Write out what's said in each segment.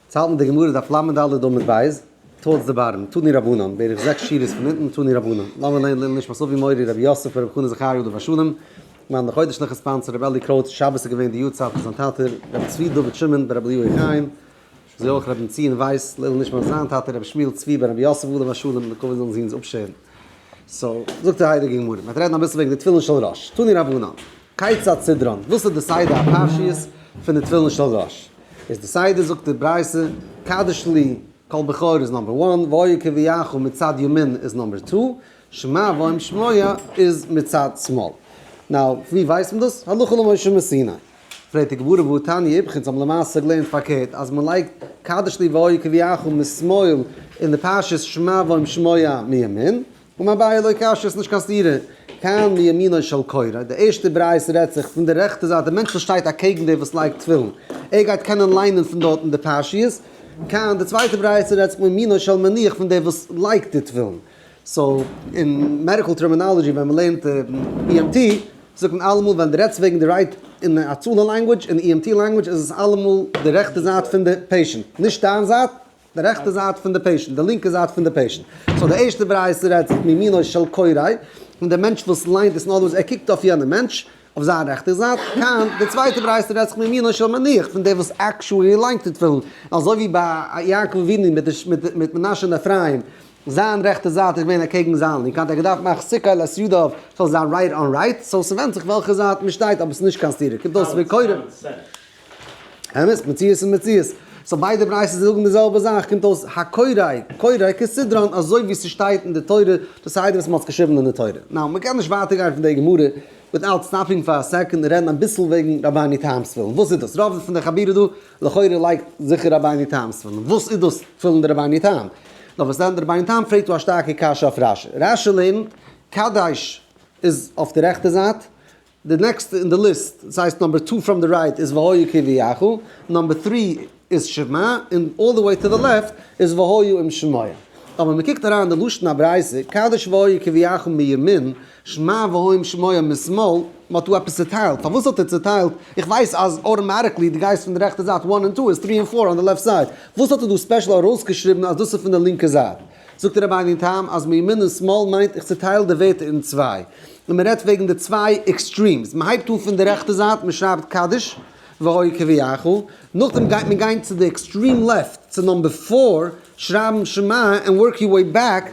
צייטן די גמרא דף לד עמוד ב', תולדות די בארן, תני רבנן, בערך זעקס שורות פון אונטן, תני רבנן, לאמיר לערנען לעילוי נשמת אבי מורי רבי יוסף רבי חנא זכריה יודא וואשלום, געווען די חודש נחת פאנץ רבי אלי' קרויס, שבת איז געווען די יארצייט פון זיין טאטע רבי צבי דוד שמעון בן רבי לוי חיים, אזוי אויך רבי בנציון ווייס, לעילוי נשמת זיין טאטע רבי שמואל צבי בן רבי יוסף יודא וואשלום, מקווה זאלן זי אונז אפשערן. סאו, זאגט די הייליגע גמרא, מ'האט רעדן אביסל וועגן די תפילין של ראש, תני רבנן, כיצד סדרן, וואס איז די סדר הפרשיות פון די תפילין של ראש, איז די סדר זאגט די ברייתא, קדיש לי, קול בכור איז נאמבער וואן, והיה כביכול מצד ימין איז נאמבער טו, שמע ואום שמיה איז מצד שמאל. נאו, ווי ווייסט מען דאס? הלכה למשה מסיני. פרעגט די גמרא והוא תני איבכן זיי האבן למעשה געלערנט פארקערט אז מען לייגט קדש לי והוי כביכול משמאל אין די פרשת שמע ואם שמיה מימין און אביי לא קשה ס'נישט קיין סתירה כאן מימינו של קורא די ערשטע ברייתא רעדט זיך פון די רעכטע זייט די מענטש וואס שטייט אקעגן דער וואס לייגט תפילין ער גייט קענען ליינען פון דארטן די פרשיות כאן די צווייטע ברייתא רעדט זיך מימינו של מניח פון דער וואס לייגט די תפילין. סאו אין מעדיקל טערמינאלעדזשי ווען מען לערנט EMT זאגט מען אלעמאל ווען די רעדסט וועגן די רייט אין הצלה לענגווידזש אין EMT לענגווידזש איז עס אלעמאל די רעכטע זייט פון די פעישענט נישט דיין זייט די רעכטע זייט פון די פעישענט די לינקע זייט פון די פעישענט סאו די ערשטע ברייתא רעדט מימינו של קוראי פון די מענטש וואס ליינט עס נארמאל ער קוקט אויף יענעם מענטש אויף זיין רעכטע זייט היינט די צווייטע ברייתא רעדט זיך מימינו של מניח פון דער וואס עקשועלי ליינט די תפילין אזוי ווי ביי יעקב אבינו מיט מנשה און אפרים. זיין רעכטע זייט איז געווען אקעגן זיין לינקע, האט ער געדארפט מאכן סיכה לעת ידיו ס'זאל זיין רייט אן רייט, סאו ס'ווענדט זיך וועלכע זייט מ'שטייט אבער ס'נישט קיין סתירה קומט אויס ווי קודם. אמת, מציאות איז מציאות. סאו ביידע בריית'עס זאגן די זעלבע זאך קומט אויס הקוראי קוראי כסדרן אזוי ווי ס'שטייט אין די תורה די סדר וואס מ'האט געשריבן אין די תורה. נאו מ'קען נישט ווייטער גיין פון די גמרא וויטאוט סטאפינג פאר א סעקאנד און רעדן אביסל וועגן רבני תם ס'ווילן וואס איז דאס רוב פון די חבירה דא לכאורה לייגט זיכער רבינו תם סימן, וואס איז דאס פילן די רבינו תם? נאר וואס דען די רבינו תם פרעגט דא א שטארקע קשיא אויף רשי, רשי לערנט קדש איז אויף די רעכטע זייט, די נעקסטע אין די ליסט, דאס הייסט נאמבער טו פראם די רייט איז והיו כי ויחו, נאמבער טרי איז שמע, און אלל די וועי טו די לעפט איז והיו אם שמעו. אבער ווען מען קוקט אריין אין די לשון הברייתא, קדש והיו כי ויחו מימין, שמע ואוים שמוע משמאל, מען האט דא עפעס צוטיילט, פארוואס האט ער צוטיילט? איך ווייס אז אוטאמאטיקלי די גייסט פון די רעכטע זייט וואן און טו איז טרי און פאר אן די לעפט סייד, וואס האט ער דא ספעשל ארויסגעשריבן אז דאס איז פון די לינקע זייט? זאגט דער רבי'ן אין טעם אז מימין און שמאל מיינט איך צוטייל די ווערטער אין צוויי, און מען רעדט וועגן די צוויי עקסטרימס, מען הייבט אן פון די רעכטע זייט, מען שרייבט קדש והוי כביכול, נאכדעם גייט מען גיין צו די עקסטרים לעפט, צו נאמבער פאר, שרייבן שמע, און ווארק יור וועי בעק,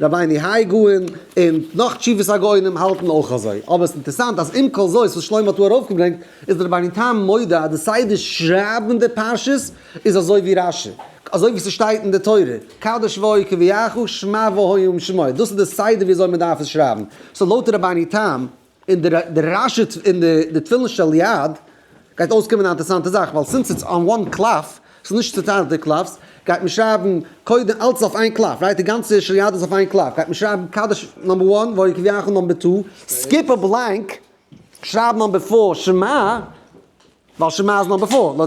רבי'ני האי גאון און נאך תשובות הגאונים האלטן אויך אזוי, אבער עס איז אינטערסאנט אז עם כל זאת וואס שלמה האט דא ארויפגעברענגט איז דער רבי'ן תם מודה אז די סדר שרייבן די פרשות איז אזוי ווי רש י, אזוי ווי ס'שטייט אין די תורה, קדש והוי קביעךו שמע והוי אום שמעו, דאס איז די סדר ווי אזוי מ'דארף עס שרייבן, סאו לויט רבי'ני תם. און די די רעש איז אין די די תפילין של יד גייט אויסקומען א אינטערסאנטע זאך ווייל סינס איטס אן וואן קלף ס'איז נישט צוטיילט די קלפס גייט מען שרייבן קודם אלץ אויף איין קלף רייט די גאנצע של יד איז אויף איין קלף גייט מען שרייבן קדש נאמבער וואן ועוד כביכול נאמבער טו סקיפ א בלענק שרייב נאמבער פאר שמע ווייל שמע איז נאמבער פאר.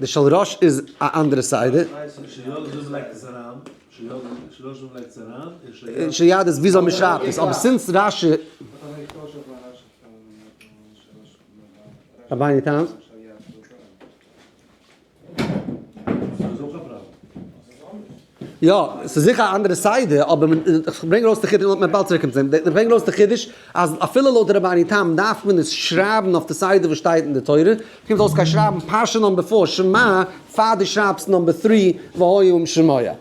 די של ראש איז א אנדערע סדר. של יד איז וויאזוי מ'שרייבט עס, אבער סינס רש י. רבני תם. יא, ס'איז זיכער א אנדערע סדר, אבער מען, איך ברענג ארויס די חידוש, לאמיר באלד צוריק קומען צו דעם, איך ברענג ארויס די חידוש אז אפילו לויט די רבני תם דארף מען עס שרייבן אויף די סדר וואס שטייט אין די תורה, קומט אויס כ'גיי שרייבן פרשה נאמבער פאר שמע פאר דו שרייבסט נאמבער טרי והיה עם שמעיה.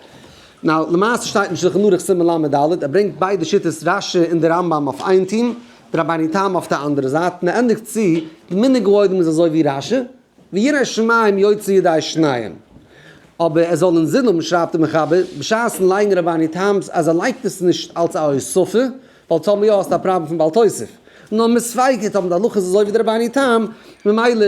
נאו, למעשה שטייט אין שלחן ערוך סימן ל' עמוד ד', ער ברענגט ביידע שיטות רש י און די רמב ם אויף איין טעם, די רבני תם אויף די אנדערע זייט, און ער ענדיגט צו, די מנהג האוהלים איז אזוי ווי רש י. ויהי רעש שמים יוצא ידי שניהם. אבער עס זאל אינזין האבן שרייבט דער מחבר בשעת'ן לייגן רבני טעם'ס אז ער לייגט עס נישט אלץ א הוספה, ווייל טאמער יא האסטו א פראבלעם פון בעל תוסף, נאר מספייקערט האבן די הלכות אזוי ווי די רבני טעם, ממילא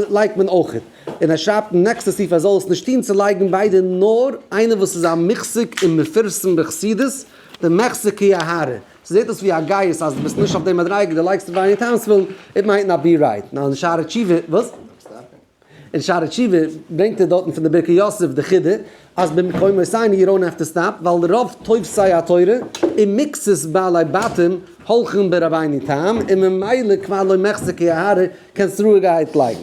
לייגט מען אויכעט. און ער שרייבט אין נעקסטע סעיף ער זאל עס נישט טוהן צו לייגן ביידע נאר איינער וואס איז א מוחזק און מפרסם בחסידות דעם מחזיקי ההרה. ס'זעט אויס ווי א גייסט אז דו ביסט נישט אויף די מדריגה, דו לייגסט דיך אין טיימסוויל, איט מייט נאט בי רייט. נאר אין שערי תשובה, וואס? אין שערי תשובה ברענגט ער דארטן פון די ברכי יוסף די חידה אז במקומות עיני יו דאונט העוו טו סטאפ, ווייל רוב תופסי התורה און מיקסעס בעלי בתים הולכן ברבינו תם, און ממילא כבר לא מחזיקי ההרה, קענסט רואיגערהייט לייגן.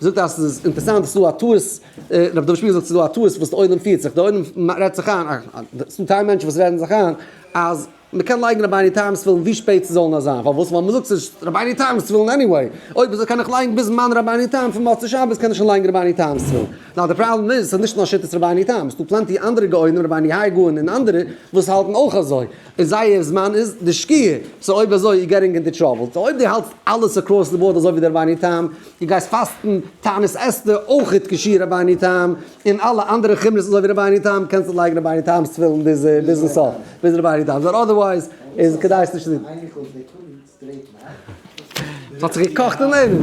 זאגט אז ס'איז אינטערסאנט ס'איז דא א טעות, רבי דוד שפירא זאגט ס'איז דא א טעות וואס די עולם פירט זיך, די עולם רעדט זיך איין, ס'דא טיילמענטשן וואס רעדן זיך איין אז מ'קען לייגן רבינו תם'ס תפילין ווי שפעט ס'זאל נאר זיין, פארוואס? ווייל מ'זאגט ס'איז רבינו תם'ס תפילין עניוועי, אויב איז קען איך לייגן ביז זמן רבינו תם פון מוצאי שבת קען איך שוין לייגן רבינו תם'ס תפילין, נאר די פראבלעם איז ס'איז נישט נאר שיטת רבינו תם, ס'דא פלענטי אנדערע גאונים רבני היי גאון און אנדערע וואס האלטן אויך אזוי, און זייער זמן איז די שקיעה, סאו אויב אזוי יו געטינג אינטו טראבל, סאו אויב די האלטסט אלעס אקראס די באורד אזוי ווי די רבינו תם, די גייסט פאסטן תענית אסתר אויך איתקשי' רבינו תם, און אלע אנדערע חומרות אזוי ווי רבינו תם קענסטו לייגן רבינו תם'ס תפילין ביזן סוף ביז רבינו תם זאל אדערווייז איז כדאי עס נישט צו טון. ס'האט זיך געקאכט אינאיינעם.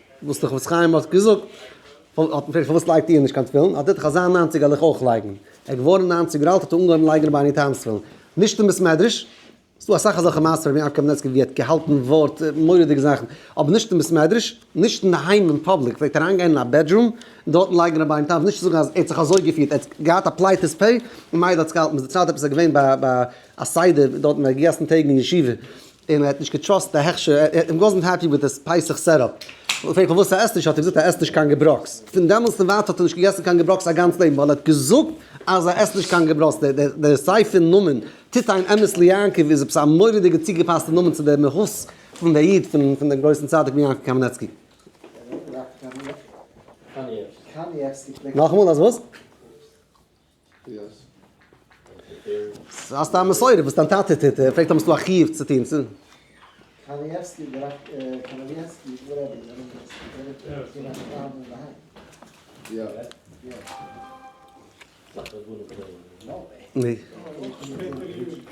וואס דער חפץ חיים האט געזאגט, האט מען געפרעגט פארוואס לייגט איר נישט קיין תפילין, האט ער געזאגט אז אזא ניינציגער וועל איך אויך לייגן, ער איז געווארן ניינציג יאר אלט האט ער אנגעהויבן לייגן בעני טעם'ס תפילין, נישט אין בית מדרש, ס'דא אסאך אזעלכע מעשיות פון רבי יעקב קמנצקי ווי ער האט געהאלטן ווארט, מורא'דיגע זאכן, אבער נישט אין בית מדרש, נישט אינדערהיים אין פאבליק, פלעגט ער אריינגיין אין א בעדרום און דארטן לייגן בעני טעם, נישט צו זאגן אז ער האט זיך אזוי געפירט, ער האט געהאט א פלייטעס פ' און מיידל האט זיך געהאלטן, מ'איז דערציילט עפעס ער איז געווען ביי א סדר דארטן ביי גיסן טעג אין ישיבה, און ער האט נישט געטראסט די הכשר, ער האט אים וואזנט העפי וויט די פסח סעטאפ, מ'האט אים געפרעגט פארוואס ער עסט נישט, האט ער געזאגט ער עסט נישט קיין געברויכס, פון דעמאלטס און ווייטער האט ער נישט געגעסן קיין געברויכס זיין גאנץ לעבן, ווייל ער האט געזאגט אז ער עסט נישט קיין געברויכס, דער ספר נאמען טוט איין אמת ליעקב איז עפעס א מורא'דיגע צוגעפאסטע נאמען צו דער מהות פון דער איד פון דעם גרויסן צדיק פון יעקב קאמינעצקי. נאכאמאל אז וואס? האסט א מסורה וואס דיין טאטע טוט ער פרעגט האבסטו א חיוב צו טון? קאניעווסקי דער רבי איז ארום די עולם?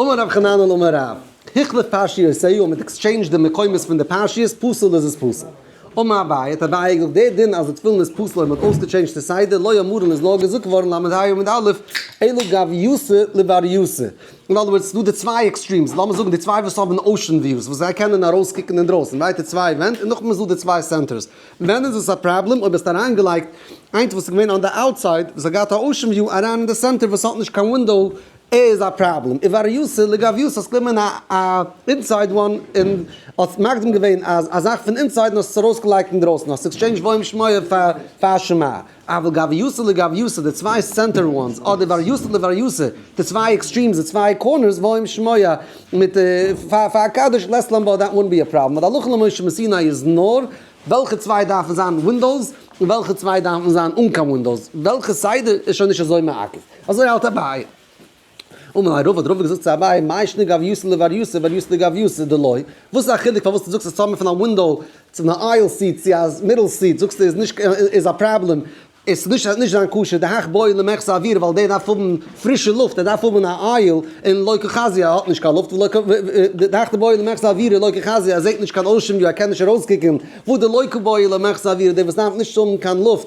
אמר רב חננאל אמר רב היכלא פרשיותיו אז מ'האט עקסטשעינדזשד די מקומות פון די פרשיות פסול איז עס פסול. אמר אביי האט אביי געזאגט די דין אז די תפילין איז פסול אויב מ'האט אויסגעטשעינדזשד די סדר לא יאמרן איז נאר געזאגט געווארן ל' אייר עמוד א' אלא גביותא לבריותא אין אדער ווארדס ס'דא די צוויי עקסטרימס לאמיר זאגן די צוויי וואס האבן אוישען וויוס וואס זיי קענען ארויסקוקן אינדרויסן ווייטע צוויי ווענט און נאכדעם איז דא די צוויי סענטערס ווען איז עס א פראבלעם אויב האסט אריינגעלייגט איינס וואס איז געווען אן די אוטסייד וואס האט געהאט א אוישען וויו אריין אין די סענטער וואס האט נישט קיין ווינדאו ער איז א פראבלעם איבער ר' יוסל לגביוס האסט גענומען א אינסייד וואן און האסט מקדים געווען אז א זאך פון אינסייד און האסט עס ארויסגעלייגט אינדרויסן האסט עקסטשעינדזש בוים שמעיה פאר פאר שמעיה אבער גביוסא לגביוסא די צוויי סענטער וואנס אדער איבער ר' יוסל איבער ר' יוסל די צוויי עקסטרימס די צוויי קארנערס בוים שמעיה מיט פאר פאר א קדוש לעס לעמבאו דעט וואונט בי א פראבלעם אבער הלכה למשה מסיני איז נאר וועלכע צוויי דארפן זיין ווינדאוס און וועלכע צוויי דארפן זיין אן קיין ווינדאוס וועלכע סדר איז שוין נישט אזוי מעכב. אזוי האלט אביי. אמר לו רבא, דער רב האט געזאגט צו אביי, מאי שני גביוסא לבר יוסא ובר יוסא לגביוסא דלא, וואס איז א חילוק פארוואס דו זאגסט אז צו האבן פון א ווינדאו צו א אייל סיט צו א מיטל סיט זאגסטו איז נישט איז א פראבלעם, עס איז נישט נישט זיין קשיא, דהכ בואי למחסה אוויר ווייל דער דארף האבן פרישע לופט, ער דארף האבן א אייל און לא כחזי א האט נישט קיין לופט ולא כ דהכ בואי למחסה אוויר און לא כחזי א זעט נישט קיין אושען וויו ער קען נישט ארויסקוקען, וואו די לא כבואי למחסה אוויר דער וואס דארף נישט האבן קיין לופט,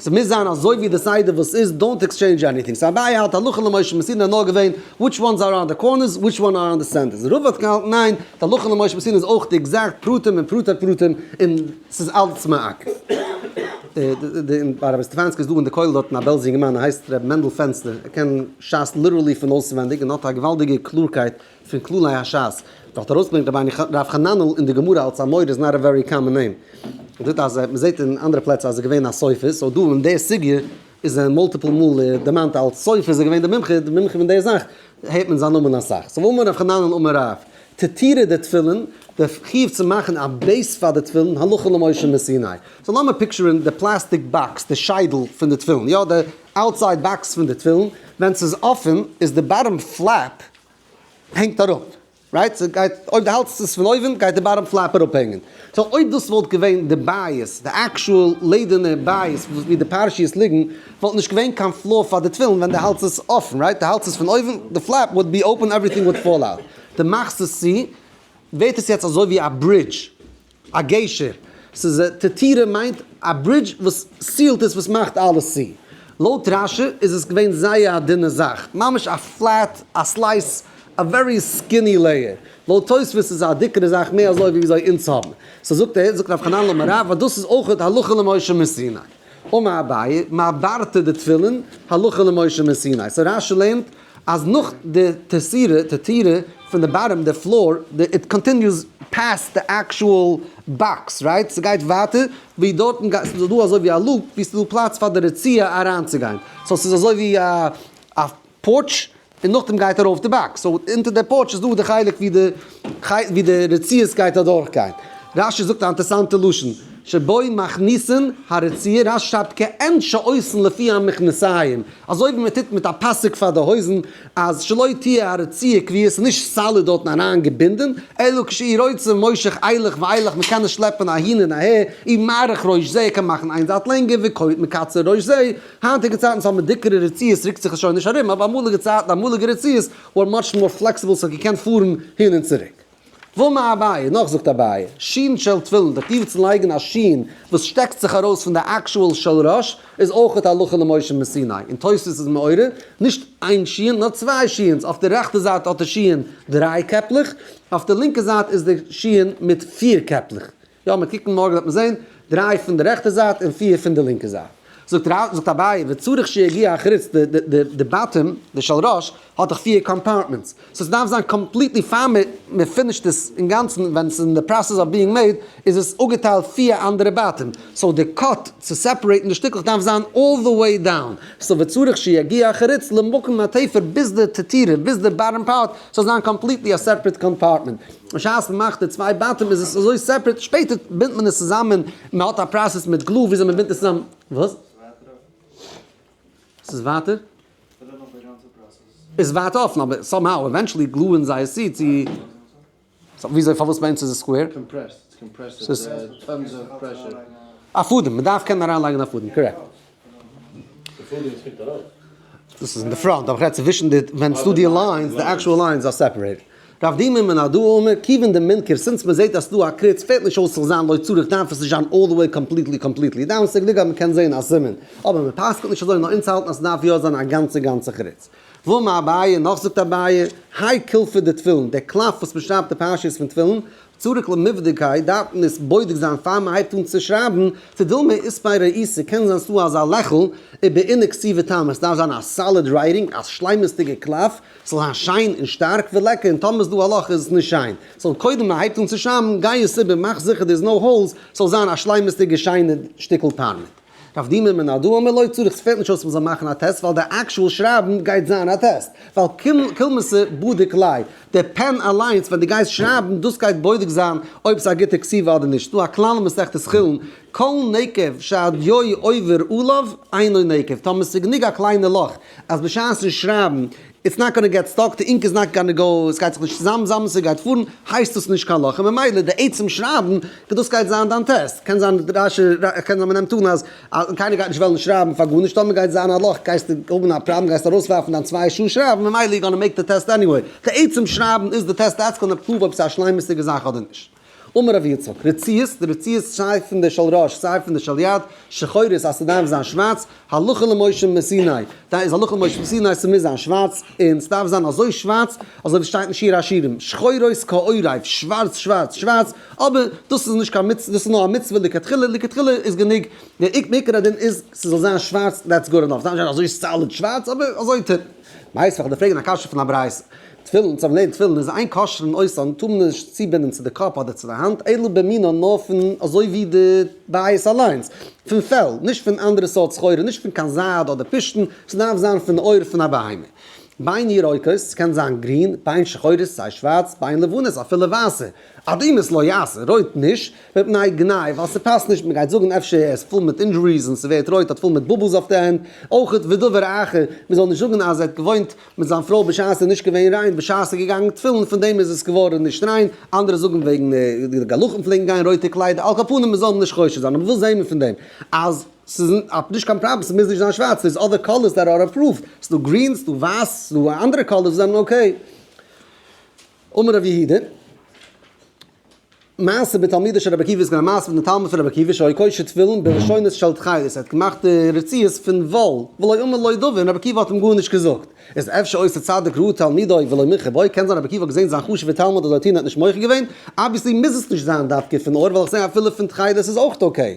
ס'מוז זיין אזוי ווי די סדר וואס איז, דאונט עקסטשעינדזש עניטינג. סא אביי האלט הלכה למשה מסיני האט נאר געווען וויטש וואנס אר אראונד די קארנערס וויטש וואן אר אראונד די סענטערס. רוב האט געהאלטן ניין, די הלכה למשה מסיני איז אויך די עקזעקט פרטים און פרטי פרטים און ס'איז אלץ מעק. און ביי רבי סטעפאנסקי איז דא אין די כולל דארטן א בעלזא יונגערמאן ער הייסט רבי מענדל פענסטער ער קען שס ליטערלי פון אויסווענדיג און האט א געוואלדיגע קלארקייט פון כללי השס וואלט ארויסגעברענגט רבינו רב חננאל אין די גמרא אלץ א מורה איז נאט א ווערי קאמאן נעים. דאס אז מען זעט אין אנדערע פלעצער אז ער איז געווען א סופר סאו דא אין די סוגיא איז ער מולטיפל מאל דערמאנט אלץ סופר איז ער געווען די מומחה די מומחה פון די זאך הערט מען זיין נאמען אסאך סאו אמר רב חננאל אמר רב תתירה די תפילין די חיוב צו מאכן א בעיס פאר די תפילין הלכה למשה מסיני סאו לאמיר פיקטשערן די פלאסטיק באקס די שיידל פון די תפילין יא די אוטסייד באקס פון די תפילין ווען ס'איז אפען איז די באטאם פלעפ הענגט אראפ, רייט? ס'גייט, אויב די האלטסט עס פון אויבן גייט די באטאם פלעפ אראפ הענגען. סאו אויב דאס וואלט געווען די בייעס, די עקשועל לעדערנע בייעס ווי די פרשיות ליגן, וואלט נישט געווען קיין פלאו פאר די תפילין ווען די האלטסט עס אפן, רייט? די האלטסט עס פון אויבן, די פלעפ וואלט בי אופן עוועריטינג וואלט פאל אוט. די מאכסט עס צו, ווערט עס יעצט אזוי ווי א ברידזש, א גשר, ס'איז תתירה מיינט א ברידזש וואס סיעלט עס וואס מאכט אלעס צו. לויט רשי איז עס געווען זייער א דינע זאך, ממש א פלעט, א סלייס, א ווערי סקיני לעיער. לויט תוספות איז עס א דיקערע זאך, מער אזוי ווי וויאזוי אונז האבן. סא זאגט ער, זאגט רב חנן לאמר רב אז דאס איז אויך הלכה למשה מסיני. אמר אביי, מה ברתה דתפילין הלכה למשה מסיני. סא רשי לערנט אז נאך די טערסירע, טערטירע, פון די באטאם, די פלאר, די איט קאנטיניוס פעסט די עקשועל באקס, רייט? ס'גייט ווייטער ווי דארטן גיי, ס'איז דא אזוי ווי א לופ ווי ס'איז דא פלאץ פאר די רצועה אריינצוגיין, סאו ס'איז אזוי ווי א א פארטש און נאכדעם גייט ארויף די באקס, סאו אונטער די פארטש איז דא די חלק ווי די. כעת ווי די רציעס גייט אדורך גיין. רש י זאגט א אנטערסאנטע לשון, שבוי מכניסין הרציע, רש י שרייבט כעין שעושים לפי המכנסיים, אזוי ווי מען טוט מיט א פאסיק פאר די הויזן, אז שלא תהיה הרציע כביה, ס'איז נישט סאליד דארטן אריין געבינדען, אלא כשהיא רוצה מושך אילך ואילך, מען קען עס שלעפען אהין און אהער, אי מאריך ראש זה, ער קען מאכן איין זייט לענגער, וכעת מקצר ראש זה, היינטיגע צייטן וואס האבן דיקערע רציעס רוקט זיך עס שוין נישט ארום, אבער אמאליגע צייטן אמאליגע רציעס אר מאטש מאר פלעקסיבל ס'האט געקענט פארן הין און צוריק. ומה אביי, נאך זאגט אביי, שין של תפילין, דער טיוב צו לייגן א שין וואס שטעקט זיך ארויס פון די עקשועל של ראש איז אויכעט הלכה למשה מסיני, און תוספות איז מעורר, נישט איין שין נאר צוויי שינס, אויף די רעכטע זייט האט די שין דריי קעפלעך, אויף די לינקע זייט איז די שין מיט פיר קעפלעך. יא מיר קוקן מארגן וועט מען זען, דריי פון די רעכטע זייט און פיר פון די לינקע זייט. זאגט רב, זאגט אביי, וצריך שיגיע אחוץ, די די די די באטעם, די של ראש, האט דאך פיר קאמפארטמענטס, סאו ס'דארף זיין קאמפליטלי פיין מיר מיר פינישט עס אינגאנצן ווען ס'איז אין די פראסעס אוו ביאינג מעיד איז עס אפגעטיילט פיר אנדערע באטעם, סאו די קאט צו סעפערעיטן די שטיקלעך דארף זיין אלל די וועי דאון, סאו וצריך שיגיע אחוץ למקום התפר ביז די תתירה ביז די באטעם פארט זאל זיין קאמפליטלי א סעפערעט קאמפארטמענט, בשעת מען מאכט די צוויי בתים איז עס אזוי סעפערעט, שפעטער בינדט מען עס צוזאמען, מען האט א פראסעס מיט גלו וויאזוי מען בינדט עס צוזאמען, וואס? עס איז ווייטער? איז ווייטער אפן אבער סאם האו עווענטשעלי גלוען זיי עס צו צו סאו וויאזוי פארוואס ביי אונז איז עס סקווער? א פאדעם, מען דארף קענען אריינלייגען א פאדעם, קארעקט. דאס איז אין די פראנט, אבער איך רעד צווישן די ווען ס'דא די ליינס, די עקשועל ליינס אר סעפערעיטעד. רב די מ מן א ד א מ כיוון די מונקער סינס מען זעהט אז ס'דא א קריץ פעלט נישט אויס צו זיין לויט צורך דארף עס נישט זיין אלל די וועי קאמפליטלי קאמפליטלי דאון סעגליג אז מען קען זעהן א סימן אבער מען פסק'נט נישט אזוי נאר אונז האלטן אז ס'דארף יא זיין א גאנצע גאנצע קריץ. וואו מ אביי נאך זאגט אביי, האי קילפא דתפילין, דער קלף וואס מען שרייבט די פרשיות פון תפילין, צוריק למבדקי, דארף מען עס בודק זיין פאר מען הייבט אן צו שרייבן, צו דילמא איז פאר ראיסע קען זיין ס'דא אזא לעכל איז בעיני כתיבה טעם, עס דארף זיין א סאליד רייטינג, א שלימות'דיגע קלף, ס'זאל זיין שיין און שטארק ולעקער, און טאמער ס'דא א לאך איז עס נישט שיין, ס'זאל קודם מען הייבט אן צו שרייבן גיי עס איבער מאך זיכער דער איז נאו האולס, ס'זאל זיין א שלימות'דיגע שיינע שטיקל פארמעט. דארף די מ מ נאר דא אמר לא צריך, ס'פעלט נישט אויס מ'זאל מאכן א טעסט ווייל די אקשועל שרייבן גייט זיין א טעסט, ווייל קולמס'ע בודק לייוו, די פען אליינס ווען די גייסט שרייבן דאס גייט בודק זיין אויב ס'איז א גוטע כתיבה אדער נישט, ס'דא א כלל אין מסכת חולין כל נקב שהדיו עובר עליו אינו נקב, טאמער ס'איז גענוג א קליינע לאך אז בשעת'ן שרייבן איטס נאט גאנע געט סטאק, די אינק איז נאט גאנע גאו, עס גייט זיך נישט צוזאם, זאמד עס גייט פארן, הייסט דאס נישט קיין לאך, און ממילא די עצם שרייבן, וואס דאס גייט זיין דיין טעסט, קען זיין די ריישע קען זיין מ'נעמט אן אז אז קיינער גייט נישט וועלן שרייבן פאר גארנישט טאמער גייט זיין א לאך גייסטו האבן א פראבלעם גייסטו ארויסווארפן דיין צוויי שעה שרייבן ממילא יו גאנע מעיק די טעסט עניוועי, די עצם שרייבן איז די טעסט דעטס קאנעקט פרואוו אויב ס'איז א שלימות'דיגע זאך אדער נישט. אמר רבי יצחק, רציעות, די רציעות סיי פון די של ראש סיי פון די של יד, שחורות אז ס'דארף זיין שווארץ, הלכה למשה מסיני, דאן איז הלכה למשה מסיני ס'מוז זיין שווארץ, און ס'דארף זיין אזוי שווארץ אזוי ווי ס'שטייט אין שיר השירים, שחורות כעורב, שווארץ שווארץ שווארץ, אבער דאס איז נישט קיין מצוה, דאס איז נאר א מצוה לכתחילה, לכתחילה איז גענוג, דער עיקר הדין איז ס'זאל זיין שווארץ דעטס גוד ענאף, ס'דארף נישט זיין אזוי סאליד שווארץ אבער אזוי טענה'ט. מיינסט פאר כדי פרעגן א קשיא פון א ברייתא. תפילין, צו אנלעבן תפילין איז איין כשר'ן אויסאן, טאר מען נישט צובינדן צו די קאפ אדער צו די האנט, אלא במינון נאר פון אזוי ווי די בית אליינס, פון פעל, נישט פון אנדערע סארט סחורה, נישט פון קיין זייד אדער פשתן, ס'דארף זיין פון די עור פון א בהמה. ביין ירוקות, ס'קען זיין גרין, ביין שחורות, סיי שווארץ, ביין לבנות, אפילו ווייסע, אדומות לא יעשה, רויט נישט, מפני גנאי, ווייל ס'פאסט נישט, מ'גייט זאגן אפשר ער איז פול מיט אינדזשוריס און ס'ווערט רויט, האט פול מיט באבלס אויף די הענט, אויך ודבר אחר, מ'זאל נישט זאגן אז ער האט געוואוינט מיט זיין פרוי בשעת עס איז נישט געווען ריין בשעת עס איז געגאנגען תפילין פון דעם איז עס געווארען נישט ריין אנדערע זאגען וועגען די גלחים פלעגען גיין רויטע קליידער על כל פנים מען זאל נישט חושד זיין אבער וואס זעהן מיר פון דעם אז ס'איז נישט קיין פראבלעם ס'מוז נישט זיין שווארץ ס'איז אדער קאלערס דער אר עפראווד ס'איז דא גרין ס'איז דא ווייס ס'איז דא אנדערע קאלערס וואס זענען אקעי. אמר ר' יהודה. מעשה בתלמידו של רבי עקיבא איז געווען א מעשה פון די תלמיד פון רבי עקיבא שהיה קושר תפילין בראשונות של תכלת ער האט געמאכט די רצועות פון וואל ולא אמר לו דבר און רבי עקיבא האט אים גארנישט געזאגט איז אפשר אויס א צדיק ראה תלמידו ולא מיחר בו קען זיין רבי עקיבא האט געזען זיין חשובע תלמיד האט זיי נישט מוחל געווען אבוויעסלי מוז עס נישט זיין דווקא פון אור ווייל איך זעה אפילו פון תכלת איז אויך אקעי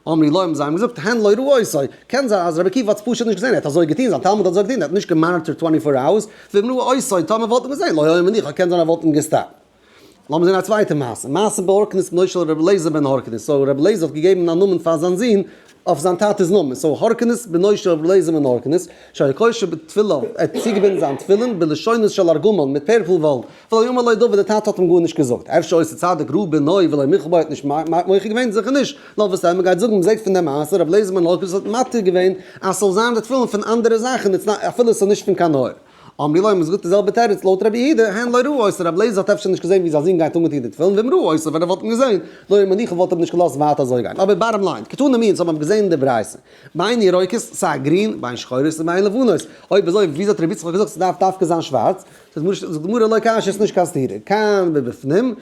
אמרי לו האבן זיי אים געזאגט הן לא ראו עשו קען זיין אז רבי עקיבא האט עס פשוט נישט געזען ער האט אזוי געטון זיין תלמיד האט אזוי געטון ער האט נישט געמאניטערט טווענטי פאר אווערס ווען ראו עשו טאמער וואלט ער געזען לא היה מניחא קען זיין ער וואלט אים געסטאפט. לאמיר זען א צווייטע מעשה, מעשה בהורקנוס בנו של ר' אליעזר בן הורקנוס, סאו ר' אליעזר האט געגעבן א נאמען פאר זיין זון אויף זיין טאטע'ס נאמען, סאו הורקנוס בנו של ר' אליעזר בן הורקנוס, שהיה קושר בתפילין, ער האט צוגעבינדן זיין תפילין, בלשונות של ארגמן, מיט פערפל וואלן, ולא יאמר לו דבר, דער טאטע האט אים גארנישט געזאגט, אפשר עושה צדק ר' בנוי ולא מיכל בו ער האט נישט מוחה געווען, זיכער נישט, נאר וואס טעמער גייט זאגן, מען זעט פון די מעשה, ר' אליעזר בן הורקנוס האט מתיר געווען אז ס'זאל זיין די תפילין פון אנדערע זאכן, אפילו ס'איז נישט פון קיין אור. אמרי להם איז גוט די זעלבע תירוץ לויט רבי יהודה, הן לא ראו עושה, רבי אליעזר האט אפשר נישט געזען ווי זיין זון גייט אן מיט איר די תפילין, ואם ראו עושה ווען ער וואלט אים געזען, לוי' מניחא וואלט ער אים נישט געלאזט ווייטער אזוי גיין, אבער בארם ליין, קטני מי אונז האבן אויף געזען די ברייתא, ביין ירוקות, סיי גרין, ביין שחורות און ביין לבנות, אויב אזוי וויאזוי האט רבי יצחק געזאגט ס'דארף דווקא זיין שווארץ, זאגט די גמרא לא קשיא ס'נישט קיין סתירה, כאן ובפנים,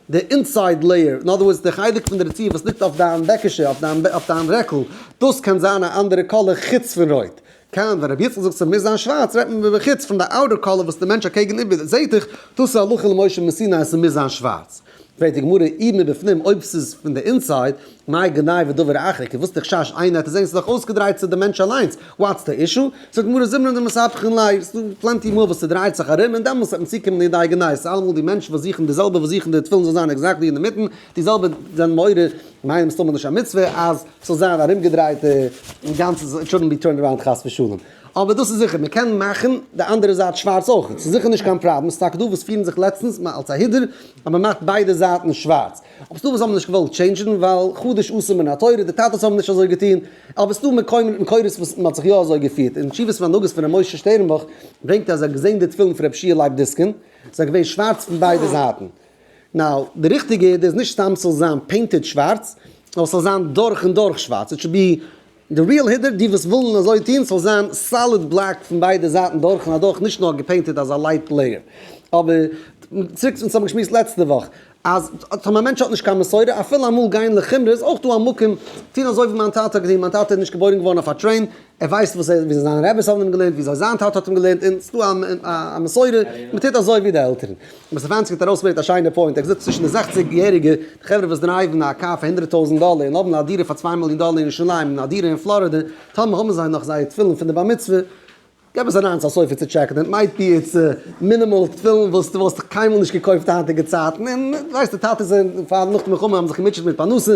די אינסייד לעיער, אין אדער ווארדס די חלק פון די רציף וואס ליגט אויף דיין בעקישע, אויף דיין רעקל, דאס קען זיין א אנדערע קאלער חוץ פון רויט. קאנט, ווען רבי יצחק זאגט ס'מוז זיין שווארץ רעדט מען במחיצ פון די אוטער קאלער וואס די מענטש אקעגן איבער זעט דיך, דאס איז הלכה למשה מסיני אז ס'מוז זיין שווארץ. פרעגט די גמרא איד מבפנים אויב ס'איז פון די אינסייד, מאי גנאי ודבר אחר, כ וואס די חשש איינער העט עס זען ס'דאך אויסגעדרייט צו די מענטש אליינס, וואטס די אישו? זאגט די גמרא זמרן די מספחין ליה, ס'איז דא פלענטי מאל וואס ס'דרייט זיך ארום און דעמאלס העט מען צוקומען לידי גנאי, ס'איז אלעמאל די מענטשן וואס זוכן די זעלבע וואס זוכן די תפילין זאל זיין עקזעקטלי אינדערמיטן, די זעלבע זענען מעורר מיינע מסתמא נישט א מצוה אז ס'זאל זיין ארומגעדרייט און גאנץ איט שודנט בי טורנד אראונד חס ושלום. אבער דאס איז זיכער מ'קען מאכן די אנדערע זייט שווארץ אויכעט. ס'איז זיכער נישט קיין פראבלעם. ס'איז טאקע דא וואס פירן זיך לעצטנס אלס א הידור אז מ'מאכט ביידע זייטן שווארץ. אבער ס'דא וואס האבן נישט געוואלט טשעינדזשן ווייל חדש אסור מן התורה, די טאטעס האבן נישט אזוי געטון. אבער ס'איז דא מקומות מקורות וואס מ'האט זיך יא אזוי געפירט. אין תשובות והנהגות פון ר' משה שטערנבוך ברענגט ער אז ער האט געזען די תפילין פון רבי שיע לייב דיסקין זענען געווען שווארץ פון ביידע זייטן. נאו, די ריכטיגע איד איז נישט סתם ס'זאל זיין פעינטעד שווארץ, נאר ס'זאל זיין דורך און דורך שווארץ, איט שוד בי די ריעל הידער, די וואס ווילן אזוי טון, ס'זאל זיין סאליד בלעק פון ביידע זייטן דורך און אדורך, נישט נאר געפעינטעד אזא לייט לעיער. אבער, צוריק צו וואס האבן געשמועסט לעצטע וואך, אז טאמער א מענטש האט נישט קיין מסורה, אפילו אמאל גיין לחומרא איז אויך דא א מקום טון אזוי ווי מיין טאטע האט געטון, מיין טאטע איז נישט געבוירן געווארן אויף א טרעין, ער ווייסט וואס ער, וויאזוי זיינע רעבעס האבן אים געלערנט, וויאזוי זיין טאטע האט אים געלערנט, און ס'איז דא א מסורה, מען טוט אזוי ווי די עלטערן. אבער סטעפאנסקי האט ארויסגעברענגט א שיינע פוינט, ער האט געזאגט צווישן די זעכציג יעריגע, די חברה וואס דרייוון א קאר פאר הונדרעט טויזנט דאלער און האבן א דירה פאר צוויי מיליאן דאלער אין ירושלים און א דירה אין פלארידע, טאמער האבן זיי נאך זייער תפילין פון די בר מצוה, געב עס אריין צו א סופר צו טשעקן, איט מייט בי איטס מינימאל תפילין וואס דו וואלסט קיינמאל נישט געקויפט היינטיגע צייטן, און דו ווייסט די טאטעס זענען פאר נאך די מלחמה האבן זיך געמוטשעט מיט פרנסה,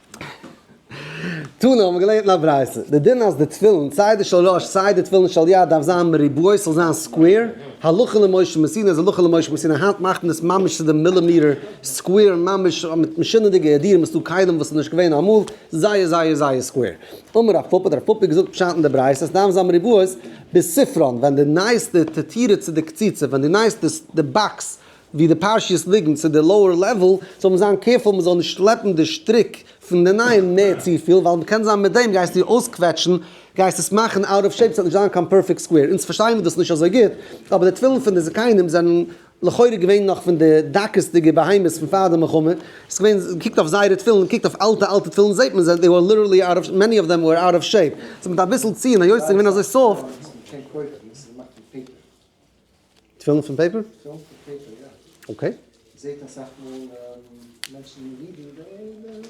תנא האבן געלערנט אין א ברייתא, די דין אז די תפילין, סיי די של ראש סיי די תפילין של יד דארף זיין מריבוע, ס'זאל זיין סקווער, הלכה למשה מסיני איז הלכה למשה מסיני, היינט מאכט מען עס ממש צו די מילימעטער סקווער, ממש מיט משונה'דיגע העדירים, ס'דא כלים וואס איז נישט געווען אמאל, זייער זייער זייער סקווער. אמר רב פפא, די רב פפא האט געזאגט פשט אין די ברייתא אז ס'דארף זיין מריבוע, בספרון, ווען די נייעסטע תתירה צו די קציצה, ווען די נייעסטע די באקס ווי די פרשיות ליגן צו די לאוער לעוועל, זאל מען זיין קעירפול מען זאל נישט שלעפן די שטריק פון די נייעם נער צופיל, ווייל קען זיין מיט דעם גייסטו אויסקוועטשן, גייסט עס מאכן אוט אוו שעיפ, ס'וועט נישט זיין קיין פערפעקט סקווער, אונז פארשטייען דאס נישט אזוי גוט, אבער די תפילין פון די זקנים זענען לכאורה געווען נאך פון די דקות'דיגע בהמות פון פאר די מלחמה, ס'איז געווען, קוקט אויף זייערע תפילין, קוקט אויף אלטע אלטע תפילין זעט מען זיי, מעני אוו דעם ווער אוט אוו שעיפ, ס'איז מיט אביסל ציון היות ס'איז געווען אזוי סאפט. תפילין פון פעיפער? תפילין פון פעיפער, יא. אקעי. זעהט אסאך מאל מענטשן אין אידן זיי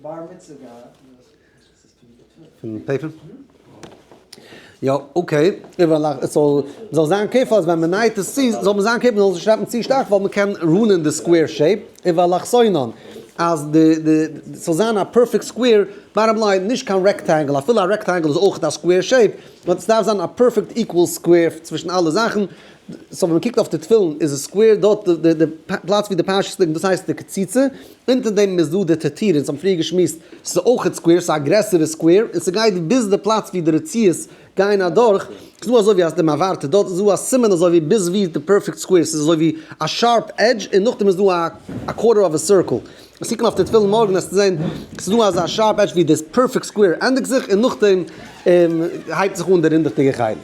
בר מצוה געהאט פון פעיפער? יא אקעי, זאל זיין קעירפול אז ווען מען נייעט עס צו זאל מען זיין קעירפול מען זאל עס נישט שרייבן צו שטארק ווייל מען קען רואנען די סקווער שעיפ, און ועל אחסינן אז די די ס'זאל זיין א פערפעקט סקווער, באטטאם ליין נישט קיין רעקטענגל אפילו א רעקטענגל איז אויך א סקווער שעיפ, באט סדארף זיין א פערפעקט איקוועל סקווער צווישן אלע זאכן, סאו ווען מקיגט אויף די תפילין איז עס סקווער דארט די די פלאץ ווי די פרשת ליגט דאס הייסט די קציצה, אונטער דעם איז דא די טעטיר אונז האבן פריער געשמועסט סאיז אויכעט סקווער סאיז א גרעסערע סקווער און סגייט ביז די פלאץ ווי די רציעות גייען אדורך סאיז דא אזויווי אז די מעברת דארט איז דא א סימן אזויווי ביז ווי די פערפעקט סקווער סאיז אזויווי א שארפ עדזש און נאכדעם איז דא א א קווארטער אוו א סירקעל וועסט קוקן אויף די תפילין מארגן וועסטו זען ס'איז דא אזא שארפ עדזש ווי די פערפעקט סקווער ענדיגט זיך און נאכדעם הייבט זיך אן די רינדעכדיגע חלק.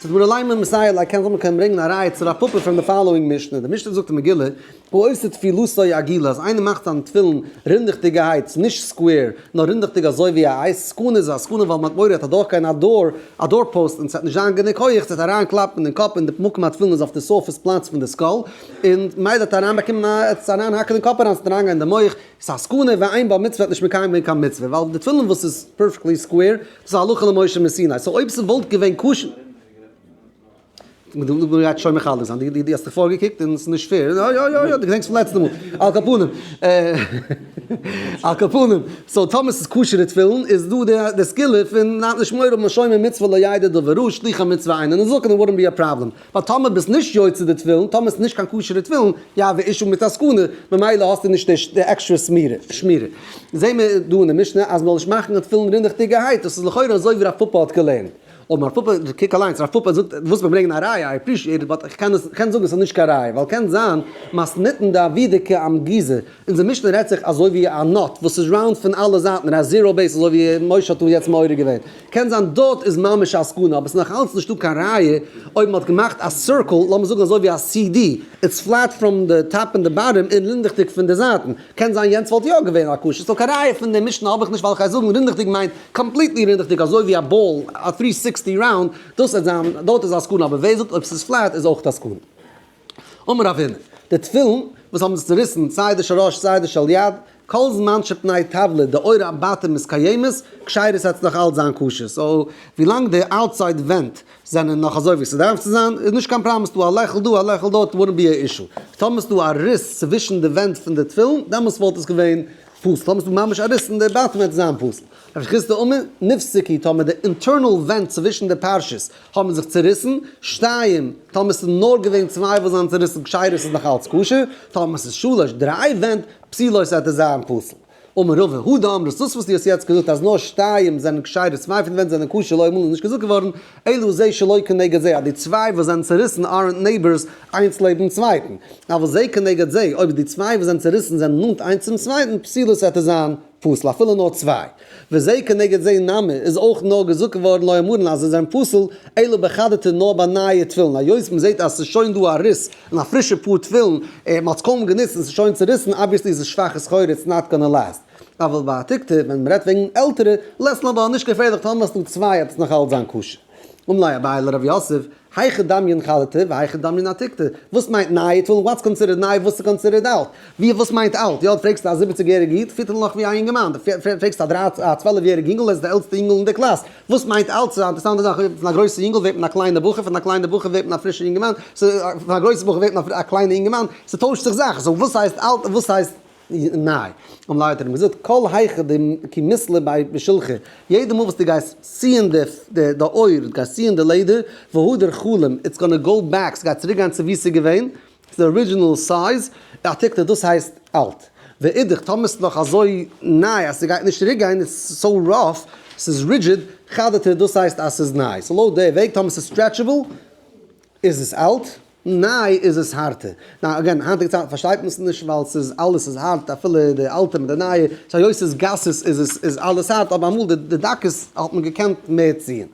ס'איז מיר אליין א מסייע לייק קען זאל מען קען ברענגן א ראיה צו רב פפא פרום די פאלאואינג משנה די משנה זאגט אין מגילה הוא עושה תפילתו עגילה אז איינער מאכט זיין תפילין רינדעכדיגעהייטס נישט סקווער נאר רינדעכדיג אזוי ווי א אייז סכנה איז א סכנה ווייל מ'האט מורא ער האט אדורכגיין א דור א דור פאוסט און ס'העט נישט זיין גענוג הויעך ס'העט אריינקלאפן אין קאפ און די מקום התפילין איז אויף די סורפעס פלאץ פון די סקאל און מייד האט אריין באקומען א עטץ אריין האקן אין קאפ אריין ס'האט אריין געהאט אין די מח איז א סכנה ווען איין בעל מצוה האט נישט מקיים געווען קיין מצוה ווייל די תפילין וואס איז פערפעקטלי סקווער דאס איז הלכה למשה מסיני סאו אויב ס'וואלט געווען כשר מ'וואלט געהאט שוין מחלק זיין די די האסט דיך פארגעקוקט און ס'איז נישט פעיר יא יא יא יא די געדענקסט פון לעצטע מאל על כל פנים על כל פנים סאו טאמער ס'איז כשר'ע תפילין איז דא די די סגולה פון נישט מעורר משומר מצוה לידע דברו שליחי מצוה אינן זקן וואלט נאט בין א פראבלעם ווייל טאמער ביסט נישט יוצא די טבילן, טאמער איז נישט קיין כשר'ע טבילן, יהא ואישום מיט א סכנה, ממילא האסטו נישט די עקסטרע שמירה. זעהן מיר דא אין די משנה אז מ'זאל נישט מאכן די טבילן רינעכטיגערהייט, דאס איז לכאורה אזוי ווי רב פפא האט געלערנט. אבער רב פפא, קוק אליינס, רב פפא זאגט, דו ווילסט מיר ברענגען א ראיה, איי עפרישיעט איט באט איך קען זאגן עס איז נישט קיין ראיה, ווייל קען זיין, מסניתן דעבידקא אמר גזע, אונזער משנה רעדט זיך אזוי ווי א נאט וואס איז ראונד פון אלע זייטן, און א זיראו בעיס אזוי ווי משה האט אונז יעצט מעורר געווען. קען זיין דארט איז ממש א סכנה, אבער עס איז נאך אלץ נישטא קיין ראיה, אויב מען האט געמאכט א סירקל, לאמיר זאגן אזוי ווי א סי די, איטס פלעט פראם די טאפ און די באטעם און רינדעכדיג פון די זייטן, קען זיין יענץ וואלט יא געווען א קושיא, סאו קיין ראיה פון די משנה האב איך נישט, ווייל איך גיי זאגן רינדעכדיג מיינט קאמפליטלי רינדעכדיג אזוי ווי א באל, א טרי סיקסטי ראונד, דאס וועט זיין, דארט איז א סכנה, אבער ווער זאגט אויב עס איז פלעט איז אויך א סכנה. אמר אבינו, די תפילין וואס האבן זיך צוריסן, סיי די של ראש סיי די של יד, כל זמן שפני טבלא דאורה אמבטי מתקיימת, כשרות העט עס נאך אלץ זיין כשר, סאו ווילאנג די אוטסייד ווענט זענען נאך אזוי ווי ס'דארף צו זיין, איז נישט קיין פראבלעם, ס'דא א לעכל דא א לעכל דארט, וואלנט בי ען אישו. טאמער ס'דא א ריס צווישן די ווענט פון די תפילין, דעמאלטס וואלט עס געווען פסול, טאמער ס'דא ממש א ריס אין די בעטעמענט וועט עס זיין פסול. רבי חיסדא אומר, נפסק היא, טאמער די אינטערנעל ווענט צווישן די פרשיות האבן זיך צוריסן, שתיים, טאמער ס'איז נאר געווען צוויי וואס זיינען צוריסן כשר'ס איז נאך אלץ כשר, טאמער ס'איז שלש, דריי, ווענט, פסילות וועט עס זיין פסול. אמר רבא הודא אמרת, דאס וואס דו האסט יעצט געזאגט אז נאר שתיים זענען כשר'ס, צוויי פון די ווענט זענען כשר, לא אמור איז נישט געזאגט געווארן, אלא זה שלא כנגד זה, אז די צוויי וואס זענען צוריסן ארענט נעיבארס איינס לעבן צווייטן, אבל זה כנגד זה, אויב די צוויי וואס זענען צוריסן זענען נאנט איינס צום צווייטן, פסילות וועט עס זיין. פסול אפילו נאר צוויי, וזה כנגד זה נמי איז אויך נאר געזאגט געווארן לא יאמרן אז זיי זענען פסול, אלא בחדתא נאר ביי נייע תפילין, היות מ'זעט אז ס'איז שוין דא א ריס אין א פרישע פאר תפילין, און מ'האט עס קוים גענוצט און ס'איז שוין צוריסן, אבוויעסלי איז עס שוואכע סחורה איטס נאט גאנא לאסט, אבל בעתיקתא ווען מ'רעדט וועגן עלטערע, לעסט נאר ווייל נישט געפערליך טאמער האסטו צוויי וועט עס נאך אלץ זיין כשר. אום לי' אביי לר' יוסף, היכא דמיון חלתא והיכא דמיון עתיקתא, וואס מיינט נייע טולן, וואטס קאנסידערד ניי, וואס איז קאנסידערד אלט, ווי וואס מיינט אלט, יא, פרעגסט א זיבעציג יעריגע איד, פירט ער נאך ווי א יונגערמאן, די פרעגסט א דרײַצן א צוועלף יעריגע יונגל, ער איז די עלטסטע יונגל אין די קלאס, וואס מיינט אלט, ס'איז א אינטערסאנטע זאך, פון א גרויסע יונגל ווערט מען א קליינע בחור, פון א קליינע בחור ווערט מען א פרישע יונגערמאן, פון א גרויסע בחור ווערט מען א קליינע יונגערמאן, ס'טוישט זיך זאכן, סאו וואס הייסט אלט און וואס הייסט. ניי, האבן ליידער האט מען געזאגט כל היכא דמי כי מסלע ביי בשלחי, יעדע מאל וואס דו גייסט ציען די די אויער, דו גייסט ציען די לעדער, והדר חלום, איטס גאנא גאו בעק, ס'גייט צוריק גיין צו ווי ס'איז געווען, צו די ארידזשינעל סייז, העתק ט דאס הייסט אלט. ואידך, טאמער ס'איז נאך אזוי ניי אז ס'גייט נישט צוריק גיין, איטס סאו ראף, ס'איז רידזשיד, חדר ט דאס הייסט אז ס'איז ניי. סאו לויט די וועג, טאמער ס'איז סטרעטשעבל, איז עס אלט. ניי איז עס הארטע. נאו אגעין, היינטיגע צייטן פארשטייט מען עס נישט ווייל ס'איז אלעס איז הארט אפילו די אלטע מיט די נייע, סאו היות ס'איז גסות איז עס איז אלעס הארט אבער אמאל די די דקות האט מען געקענט מער ציען.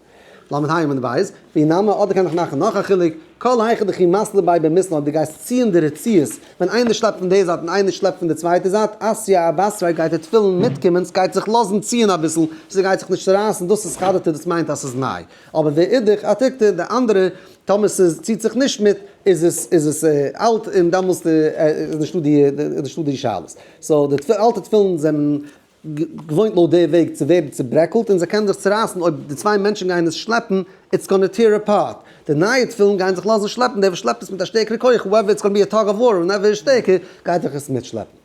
למד ה' עמוד בית, ווי נאמר אדער קען איך מאכן נאך א חילוק, כל היכי דכי מסלו ביי במסלו אויב די גייסט ציען די רציעות ווען איינער שלעפט פון די זייט און איינער שלעפט פון די צווייטע זייט עשיה א בעשריי גייט די תפילין מיטקומען ס'גייט זיך לאזן ציען אביסל ס'גייט זיך נישט צורייסן דאס איז חדתא דאס מיינט אז ס'איז ניי אבער ואידך אתיקתא די אנדערע טאמער ס'איז ציט זיך נישט מיט איז עס איז עס אלט און דאמאלס איז נישטא די איז נישטא די שאלות. סאו די אלטע תפילין זענען געוואוינט לויט די וועג צו ווערן צוברעקלט און זיי קענען זיך צורייסן אויב די צוויי מענטשן גייען עס שלעפן איטס גאנע טיער אפארט. די נייע תפילין גייען זיך לאזן שלעפן דער וואס שלעפט עס מיט א שטערקערע כח האועווער איטס גאנע בי א טאג אוו וואר ווענעווער איז שטערקער גייט זיך עס מיטשלעפן.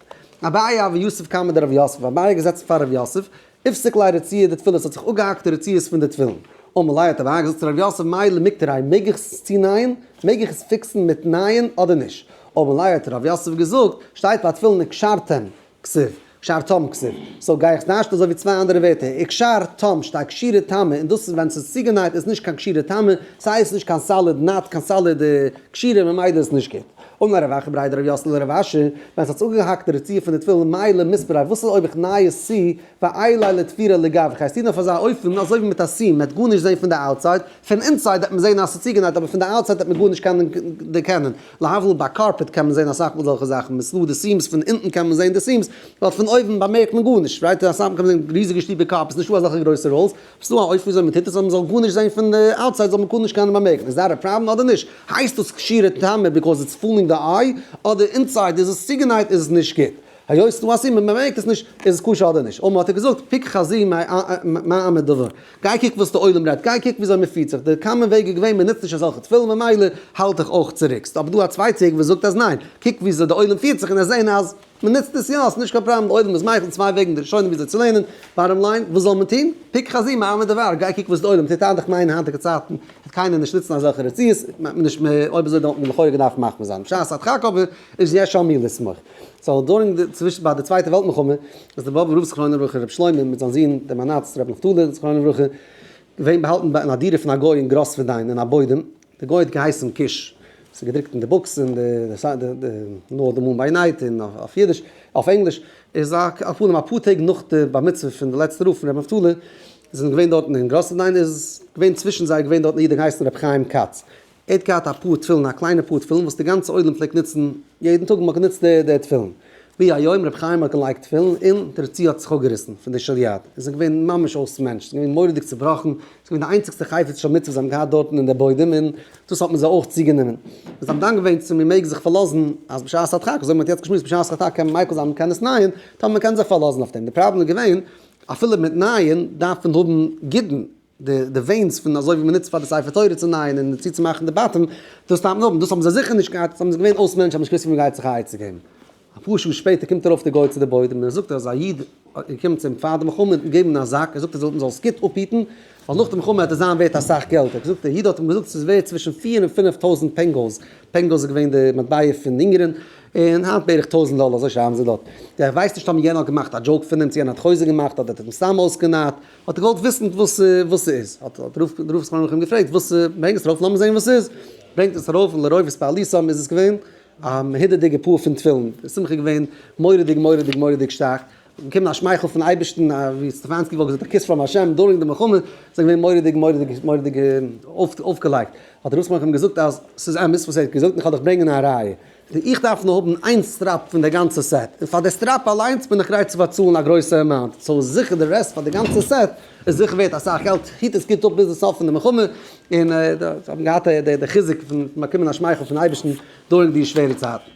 אביי אבי יוסף קם מיט די רב יוסף אביי געזעצן פאר רב יוסף הפסק ליל רציעה די תפילות האט זיך אפגעהאקט די רציעות פון די תפילין און מלאי האט אריין געזאגט צו ר' יוסף מאיר למקטריי מעג איך עס צונייען? מעג איך עס פיקסן מיט נייען אדער נישט? און מלאי האט ר' יוסף געזאגט שטייט ביי תפילין וקשרתם כסוף קשרתם כסוף סאו גיי איך טיישן אזוי ווי צוויי אנדערע ווערטער אין קשר תם שטייט קשירה טעמע און דאס איז ווען ס'איז צוגענייט איז נישט קיין קשירה טעמע ס'הייסט נישט קיין סאליד נאט קיין סאליד קשירה ממילא איז נישט גוט אמר ר' אחי' בריידער ר' יאסעלע ר' אשר, ווען ס'האט זיך אנגעהאקט די רצועה פון די תפילין מילא מספר איי וואס איז אויב איך ניי עס צו, ואילי לתפירה לגבי, כ'הייס טון אויף אזא אופן אזוי ווי מיט א סיעם, מ'עט גארנישט זען פון די אוטסייד, פון אינסייד עט מען זען אז ס'איז צוגענייט אבער פון די אוטסייד עט מען גארנישט קענען דערקענען, להבדיל ביי קארפעט קען מען זען אסאך מאל זעלכע זאכן, מ'איז דא די סיעמס פון אונטן קען מען זען די סיעמס, ווייל פון אויבן באמערקט מען גארנישט, ראיתי אסאך מאל קען מען זען ריזיגע שטיקער קארפעט, נישטא אזעלכע גרויסע ראלס, ס'איז דא א אופן וויאזוי מ'טוט עס אז מ'זאל גארנישט זען פון די אוטסייד זאל מען גארנישט קיינעם באמערקן, איז דעט א פראבלעם אדער נישט? הייסט דאס כשירע טעמער ביקאוז איטס פולינג די איי? אדער אינסייד איז עס צוגענייט איז עס נישט גוט? היות ס'איז דא א סימן מען באמערקט עס נישט איז עס כשר אדער נישט? אמאל האט ער געזאגט פיקח חזיר מה אמר דבר גיי קוק וואס די עולם רעדט גיי קוק וויאזוי מען פירט זיך די קאמאן וועג איז געווען מען נוצט נישט אזעלכע תפילין ממילא האלט איך אויך צוריק ס'איז אבער דא א צווייטע וועג וואס זאגט אז ניין קוק וויאזוי די עולם פירט זיך און עס זען אז מען נוצט עס יא, ס'איז נישט קיין פראבלעם אויב מען איז מייחל צוויי וועגן די ראשונים וויאזוי צו לערנען, בארעם ליין, וואס זאל מען טון? פוק חזי מאי עמא דבר, גיי קוק וואס די עולם טוט היינט, איך מיין אין היינטיגע צייטן וועט קיינער נישט נוצן אזעלכע רצועות, מיינט מען נישט, אויב אזוי דאן וואלט מען לכאורה געדארפט מחמיר זיין, בשעת הדחק אבער איז יש על מי לסמוך. סאו דורינג די, צווישן ביי די צווייטע וועלט מלחמה, איז די באבוב רב זכרונו לברכה רבי שלמה מיט זיין זון דער מנצ ר רבי נפתלי זכרונו לברכה געווען באהאלטן אין א דירה פון א גוי אין גראסווערדיין אין א בוידעם, די גוי האט געהייסן קיש. ס'איז געדרוקט אין די בוקס אין די נאר די מומביי נייט אין אויף אידיש אויף ענגליש. איז א פנים אפאר טעג נאך די בר מצוה פון די לעצטע רב פון רבי נפתלי זענען געווען דארטן אין גראסעדאין איז געווען צווישן זיי געווען דארטן א איד געהייסן רבי חיים כץ ער האט געהאט א פאר תפילין א קליינע פאר תפילין וואס די גאנצע עולם פלעגט נוצן יעדן טאג מ'האט גענוצט די די תפילין ווי היום רבי חיים האט געלייגט תפילין און די רצועה האט זיך אפגעריסן פון די שליאט איז ער געווען ממש אויס מענטש איז געווען מורא'דיג צובראכן געווען די איינציגסטע חפץ של מצוה זיי האבן געהאט דארטן אין די בוידעם און דאס האט מען זיי אויך צוגענומען. זיי האבן דן געווען צו מען מעג זיך פארלאזן אז בשעת הדחק, אזוי ווי מען האט יעצט געשמועסט בשעת הדחק קען מען מייקל זיין מען קען עס נייען, טאמער מען קען זיך פארלאזן אויף דעם. די פראבלעם איז געווען אפילו מיט נייען דארף מען האבן גידן, די די ווענס פון אזוי ווי מען נוצט פאר די ספר תורה צו נייען און צוצומאכן די בתים, דאס דארף מען האבן, דאס האבן זיי זיכער נישט געהאט, ס'האבן זיי געווען אויסמענטשן האבן נישט געוואוסט ווי מען גייט זיך א עצה געבן. אפאר שעה שפעטער קומט ארויף דער גוי צו די בוידעם און ער זאגט אז א איד איז געקומען צו אים פאר די מלחמה און געגעבן אים א זאק, ער זאגט ער זאל מען זאל עס גוט אפהיטן ווייל נאך די מלחמה וועט עס זיין ווערט אסאך געלט, ער זאגט דער איד האט אים געזאגט ס'איז ווערט צווישן פֿיר און פֿינף טויזנט פענגאוס, פענגאוס איז געווען די מטבע פון אונגערין, און היינט בערך טויזנט דאלער אזוי שרייבן זיי דארט, ער ווייסט נישט טאמער יענער האט געמאכט א דזשאוק פון אים צו יענער האט חוזק געמאכט אדער האט ער אים סתם אויסגענייט, האט ער געוואלט וויסן וואס וואס ס'איז, האט האט רוב רוב ספרים האבן אים געפרעגט וואס ברענג עס ארויף לאמיר זען וואס ס'איז, ברענגט עס ארויף און לרוב איז פאר אליסאם איז עס געווען א מהודר'דיגע פאר פון תפילין, די שמחה איז געווען מורא'דיג מורא'דיג מורא'דיג שטארק, איז געקומען א שמייכל פון אייבערשטן, ווי סטעפאנסקי וואלט געזאגט א קיס פראם השם דורינג די מלחמה, איז עס געווען מורא'דיג מורא'דיג מורא'דיג אויפגעלייגט, האט ר' שמחה אים געזאגט אז ס'איז אמת וואס ער האט געזאגט און כ'וועל דיך ברענגען א ראיה, איך דארף נאר האבן איין סטראפ פון די גאנצע סעט, און פאר די סטראפ אליינס בין איך גרייט צו באצאלן א גרויסע אמאונט, סאו זיכער די רעסט פאר די גאנצע סעט איז זיכער ווערט אסאך געלט, היט עס גוט אפ ביזן סוף פון די מלחמה, און זיי האבן געהאט די חיזוק פון באקומען א שמייכל פון אייבערשטן דא אין די שווערע צייטן.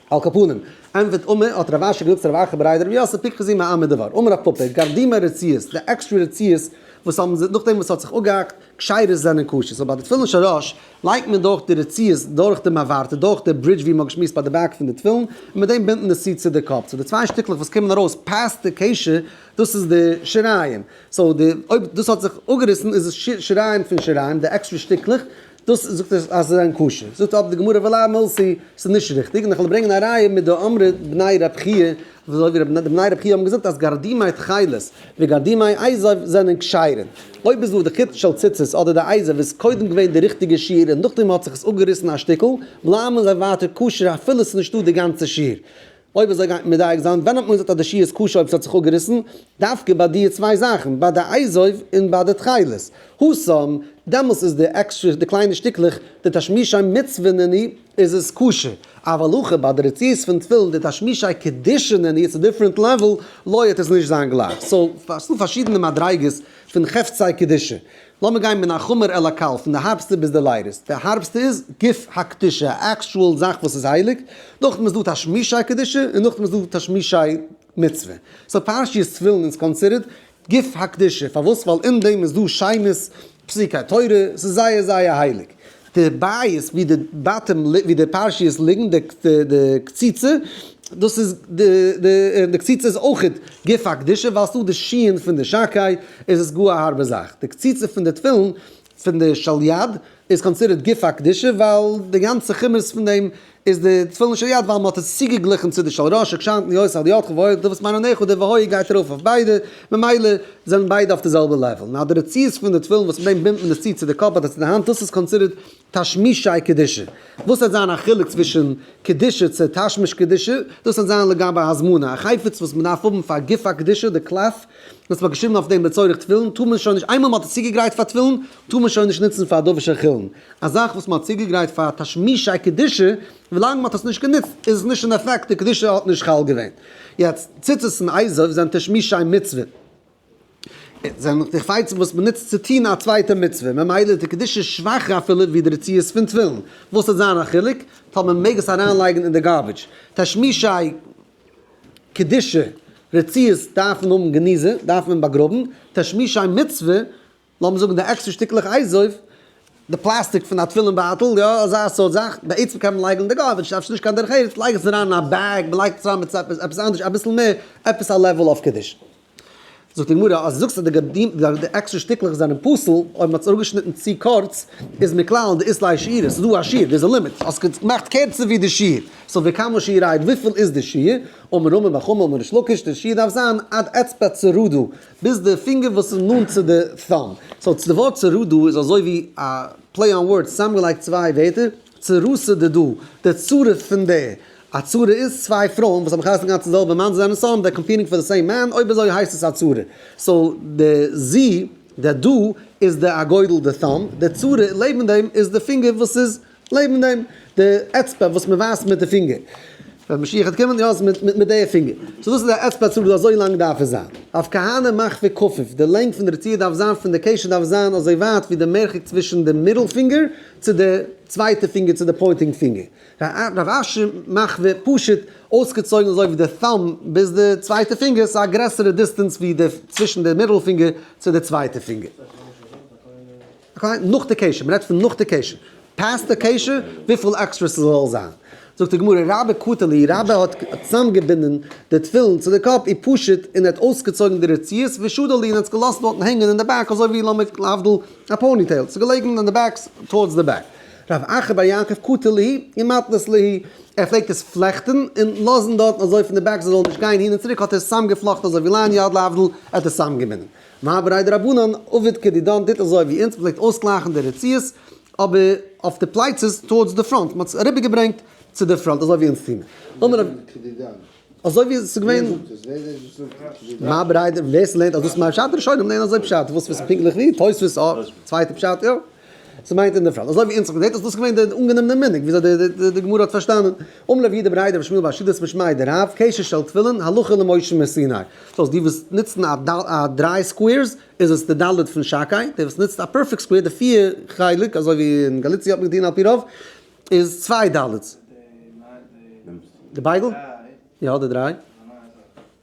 על כפנים, ענוות אומה, האט רב אשר געזאגט צו רב ארחי בריידער רבי יוסף פיקח זיע מעם מדבר, אמר רב פפא, גארדימער רציעות, די עקסטרע רציעות וואס האבן זיי נאכדעם וואס האט זיך אפגעהאקט, כשרות זענען כשר, סאו ביי די תפילין של ראש לייגט מען דורך די רציעות דורך די מעברת, דורך די ברידזש ווי מען האט געשמועסט ביי די בעק פון די תפילין, און מיט דעם בינדן די סיד צו די קאפ, סאו די צוויי שטיקלעך וואס קומען ארויס פאסט די קשר, דאס איז די שיריים, סאו די אויב דאס האט זיך אפגעריסן איז עס שיריים פון שיריים די עקסטרע שטיקלעך דאס זאגט עס אז עס זענען כשר זאגט אבער די גמרא ולא אמלסי עס איז נישט ריכטיג און איך וועל ברענגען א ראיה מיט די אמרי בני רב חייא אזוי ווי די בני רב חייא האבן געזאגט אז גרדימי תכלת וגרדימי אייזוו זענען כשרים אויב איז דא די חיטה של ציצית אדער די אייזוו איז קודם געווען די ריכטיגע שיר און נאכדעם האט זיך עס אפגעריסן א שטיקל בלייבן זיי ווייטער כשר אפילו עס איז נישטא די גאנצע שיר. אויב אזוי גייט מען מדייק זיין ווען האט מען געזאגט אז די שעה איז כשר אויב ס'האט זיך אפגעריסן, דווקא ביי דיע צוויי זאכן, ביי די עיזוב און ביי די תכלת. האסאם, דעמאלס איז די עקסטרע די קליינע שטיקלעך, די תשמישי מצוה נעני, איז עס כשר. אבער הלכה ביי די רצועות פון תפילין, די תשמישי קדושה נעני, איטס א דיפרענט לעוועל, לויעט עס נישט זיין גלייך. סאו, ס'דא פארשידענע מדריגות פון חפצי קדושה. לאמיר גיין מן החומר אל הקל, פון די הארבסטע ביז די לייטעסט, די הארבסטע איז גוף הקדושה, א עקשועל זאך וואס איז הייליג, נאכדעם איז דא תשמישי קדושה און נאכדעם איז דא תשמישי מצוה, סאו פרשיות תפילין איז קאנסידערט גוף הקדושה, פארוואס? ווייל אין דעם איז דא שיימות פסוקי תורה, ס'איז זייער זייער הייליג, די בית ווי די בתים ווי די פרשיות ליגן די די קציצה דאס איז די די און די קציצה איז אויכעט גופא קדושה ווייל ס'איז דא די שיען פון די שקי איז עס גאר א הארבע זאך די קציצה פון די תפילין פון די של יד איז קאנסידערט גופא קדושה ווייל די גאנצע כמוס פון דעם איז די תפילין של יד ווייל מ'האט עס צוגעגליכן צו די של ראש שכשאנתן יוסל על ידך ועוד דו וואס מיין אני חו די והוי גייט ארויף אויף ביידע ממילא זענען ביידע אויף די זעלבע לעוועל נאר די רציעות פון די תפילין וואס מיט דעם בינדט מען עס צו צו די קאפ אדער צו די האנט דאס איז קאנסידערט תשמישי קדושה וואס העט זיין א חילוק צווישן קדושה צו תשמיש קדושה דאס העט זיין לגבי הזמנה א חפץ וואס מ'דארף האבן פאר גוף הקדושה די קלף וואס מ'האט געשריבן אויף דעם לצורך תפילין טאר מען שוין נישט איינמאל מ'האט עס צוגעגרייט פאר תפילין טאר מען שוין נישט נוצן פאר דאווע של חולין, א זאך וואס מען האט צוגעגרייט פאר תשמישי קדושה, ווילאנג מען האט עס נישט גענוצט איז עס נישט אין אפעקט, די קדושה האט נישט חל געווען. יעצט, ציצית און אייזעף זענען תשמישי מצוה, זענען די חפצים וואס מען נוצט צו טון א צווייטע מצוה, ממילא איז די קדושה שוואכער אפילו ווי די רצועות פון תפילין, וואס וועט זיין א חילוק? טאר מען מעג עס אריינלייגן אין די גארביטש? תשמישי קדושה רצועות דארפן האבן גניזה, דארף מען באגראבן, תשמישי מצוה לאמיר זאגן די עקסטער שטיקלעך אייז אויף די פלאסטיק פון א תפילין בייטל, יא אזא סארט זאך, בעצם קען מען לייגן אין די גארביטש, אפשר נישט קיין דרך ארץ, לייג עס אריין אין א בעג, מען לייגט עס אריין מיט עפעס עפעס אנדערש אביסל מער, עפעס א לעוועל אויף קידוש. זאגט די גמרא אז דו זאגסט אז די גדים די די עקסטער שטיקלעך זענען פסול, אויב מען האט עס אראפגעשניטן צו קורץ, איז מען כלל אין די איסור הישירה, ס'איז דא א שיעור, דער איז א לימיט, האסט עס געמאכט קערצער ווי די שיעור, סאו וכמה שיעור הייד, וויפיל איז די שיעור, אמר רמ א בר חמא אמר ריש לקיש, די שיעור דארף זיין עד אצבע צרעדה. ביז די פינגער וואס איז נאנט צו די thumb. סאו די ווארט צורו דא איז אזוי ווי א פלעי אן ווארדס צוזאמגעלייגט צוויי ווערטער, צורו ס'איז דא דא, די צורה פון דער. א צורה איז צוויי פרויען וואס האבן געהייסן גאנץ די זעלבע מאן, זיי זענען סאו אן דער קאמפיעטינג פאר די סעים מען, אויב אזוי הייסט עס א צורה. סאו די זי, די דא, איז די א גודל די thumb, די צורה לעבן דעם איז די פינגער וואס איז. לעבן דעם די אצבע וואס מען ווייזט מיט די פינגער ווען משיח וועט קומען יא מיט מיט די פינגער סאו דאס איז די אצבע צוריק אזוי לאנג דארף עס זיין אויף כהנה מאך פון כפוף די לענג פון די רצועה דארף זיין פון די קשר דארף זיין אזוי ווייט ווי די מרחק צווישן די מיטל פינגער צו די צווייטע פינגער צו די פוינטינג פינגער רב אשי מאך ווי פשוט אויסגעצויגן אזוי ווי די טאמב ביז די צווייטע פינגער סאו א גרעסערע דיסטענס ווי די צווישן די מיטל פינגער צו די צווייטע פינגער. אקעי, נאך די קשר, מ'רעדט פון נאך די קשר. פעסט די קשר, וויפיל עקסטרע ס'זאלל זיין. זאגט די גמרא, רבי קטלא איר רבי האט צוזאמגעבינדען די תפילין צו די קאפ איר פשוט און ער האט אויסגעצויגן די רציעות ושדל איר און האט עס געלאזט דארטן הענגען אין די בעק אזוי ווי לאמיג להבדיל א פאוני טעיל, ס'איז געלעגן אין די בעק טארדס די בעק. רב אחר בר יעקב קטלא איר מתנת ליה ער פלעגט עס פלעכטן און לאזן דארטן אזוי פון די בעק ס'זאלל נישט גיין אהין און צוריק האט ער עס צוזאמגעפלאכטן אזוי ווי לעניות להבדיל ער האט עס צוזאמגעבינדען. מאבירי דרבנן, עובד כדידן טוט אזוי ווי אונז, מ'פלעגט אויסגלייכן די רצועות, אבער אויף די פלייצעס טאוארדס די פראנט, מ'האט עס אריבערגעברענגט צו די פראנט אזוי ווי אונז טוען. אמר רב. כדידן. אזוי ווי עס איז געווען. ווער זאגט עס? ווער איז דער וואס זאגט עס? כדידן. מאבירי דרבנן, ווער ס'לערנט אז דאס מיינט פשט, ראשונים לערנען אזוי פשט, וואס איז פונקטליך ווי? תוספות, א צווייטע פשט, יא. עס מיינט אין דער פראנט, אזוי ווי אונז זעט עס, דאס איז געווען דער אנגענומענער מנהג, וויאזוי די גמרא האט פארשטאנען, אמר לב יידע בראידא ושמואל בעל שיטת משמעי די רב, קשר של תפילין, הלכה למשה מסיני. דאס איז די וואס נוצן א א דריי סקווערס, איז עס די ד' פון שקאי, די וואס נוצט א פערפעקט סקווער, די פיהר חלק, אזוי ווי אין גאליציע האט מען געטון על פי רוב, איז צוויי ד'. די בייגל? יא די דריי.